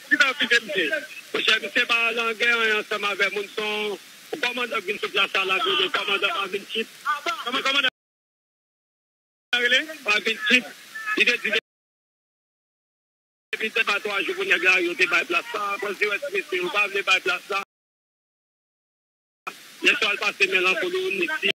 Ki sa w kite misye? Monchè misye pa lan gè anyen ansanm avè moun son w kòmandan k vin sou plas la lap rele kòmandan pa vin chip kòman kòmandan rele pa vin chip li te di depi se pa 3 jou pou nèg la yo te bay plas la kòz li wè ti mesye yo pa vle bay plas la yèswa l pase men lan kolo nèg ti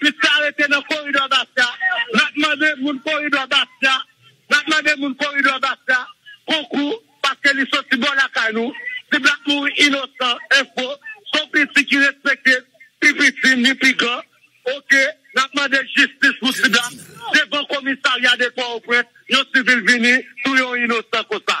Plis sa rete nan koridò Basta nap mande moun koridò Basta nap mande moun koridò Basta konkou paske li soti bò lakay nou si black mouri inosan info son piti ki respekte pi piti ni pi gran ok nap mande jistis pou ti black devan komisarya de pòoprens yon sivil vini touye yon inosan konsa.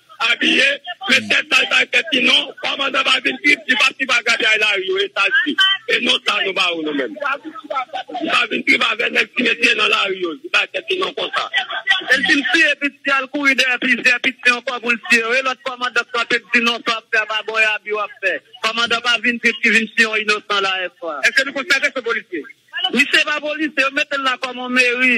abiye men tèt sa li pa gen tèt li non pa manzè pa vin trip li pa trip ak gabyay lari yo e saj li e non sa nou ba ou nou menm li pa vin trip avè nèg ti mesye nan lari yo li pa gen tèt li non konsa el fin siye pitit li al kouri dèyè plizyè pitit li ankò poul siye yo e lòt kòmandan k kanpe k di non sa wap fè a pa bon e abi wap fè kòmandan pa vin trip ki vin siye yon inosan la eswa. Eske nou konsidere ke se polisye? Misye pa polisye yo metel la kòm yon meri.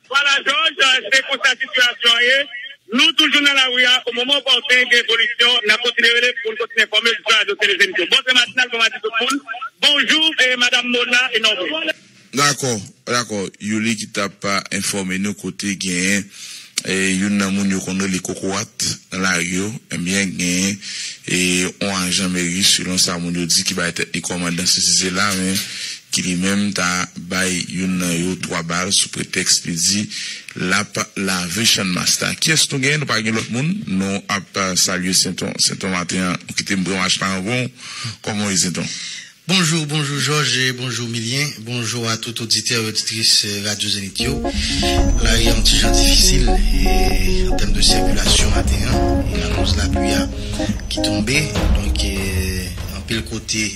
Wala Jòj, se konsa sitiyasyon an ye. Nou toujou nan lari a, o moman opòten gen evolisyon, n ap kontinye rele pou n kontinye enfòme l sou Radio Télé Zénith yo. Bon tren matinal, bon madi tout moun. Bonjou Madam Mona e Norvin. Dakò, dakò. Youri ki t ap enfòme nou kote genyen youn nan moun yo konn rele Kokorat nan lari yo. Enbyen genyen on ajan meri selon sa moun yo di ki bay tèt li kòmandan sesi sela men ki li menm ta bay youn nan yo 3 bal sou pretèks li di lap lave channmas la kiyès nou gen nou pa gen lòt moun nou ap salye senton senton maten an ou kitem pran mach la anvan w kòman w ye senton. Bonjou bonjou jòj bonjou milyen bonjou a tout oditè e oditris radyo zenith yo lari a yon ti jan difisil an tèm de sikilasyon maten an akoz lapli a ki tonbe donk anpil kote.